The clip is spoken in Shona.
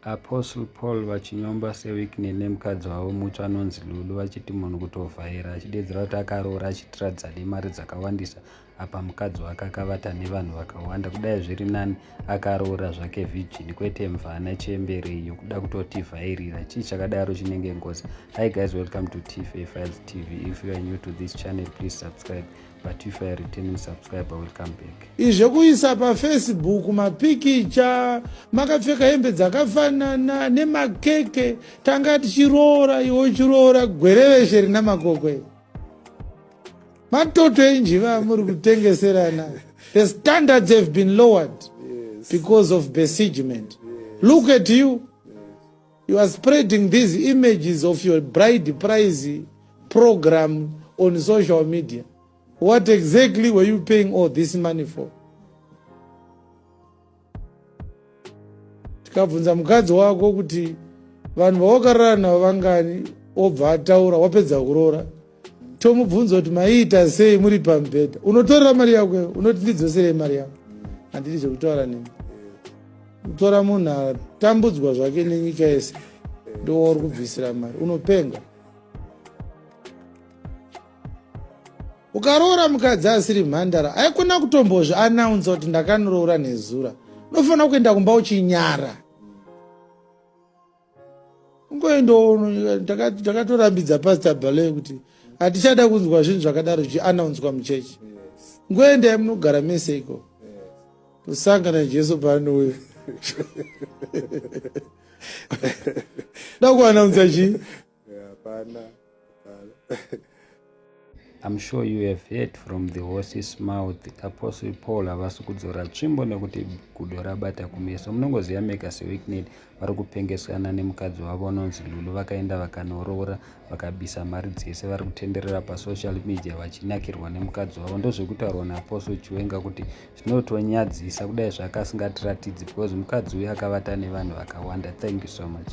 Apostle Paul vachinyomba Sir Wicknell nemukadzi wavo mutsva anonzi Lulu vachiti munhu kutovhaira achideedzera kuti akaroora achiitira dzade mari dzakawandisa apa mukadzi wake akavata nevanhu vakawanda kudai zviri nani akaroora zvake virgin kwete mvana chembere iyo kuda kutotivhairira chii chakadaro chinenge ngozi hi guys welcome to tfa files tv if you are new to this channel please subscribe but if I return you subscribe I will come back. Izve kuisa pa Facebook mapikicha makapfeka hembe dzakafanana nemakeke tanga tichiroora iwo chiroora gwereveshe rina makokwe matoto enjiva muri kutengeserana the standards have been lowered yes. because of besiegement yes. look at you You are spreading these images of your bride price program on social media. What exactly were you paying all this money for? Tikabvunza mukadzi wako kuti vanhu vawakarara navo vangani obva ataura wapedza kuroora tomubvunza kuti maiita sei muri pamubhedha unotorera mari yako unoti ndidzoserei mari yako handidi zvekutaura neni kutora munhu atambudzwa zvake nenyika yese ndowauri kubvisira mari unopenga ukaroora mukadzi asiri mhandara aikona kutombozvi anaunsa kuti ndakaniroora nezura unofanira kuenda kumba uchinyara kungoendawo ndakatorambidza pastor bale kuti hatichada kunzwa zvinhu zvakadaro zvichianaunzwa muchechi ngoendai munogara mese iko kusangana jesu paanouya da kuanaunza chii hapana hapana I'm sure you have heard from the horse's mouth apostle paul havasi kudzora tsvimbo nekuti gudo rabata kumeso munongoziva mega seweeknet vari kupengesana nemukadzi wavo unonzi lulu vakaenda vakanoroora vakabisa mari dzese vari kutenderera pasocial media vachinakirwa nemukadzi wavo ndozvekutaurwa naapostle chiwenga kuti zvinotonyadzisa kudai zvaakasingatiratidzi because mukadzi uyu akavata nevanhu vakawanda thank you so much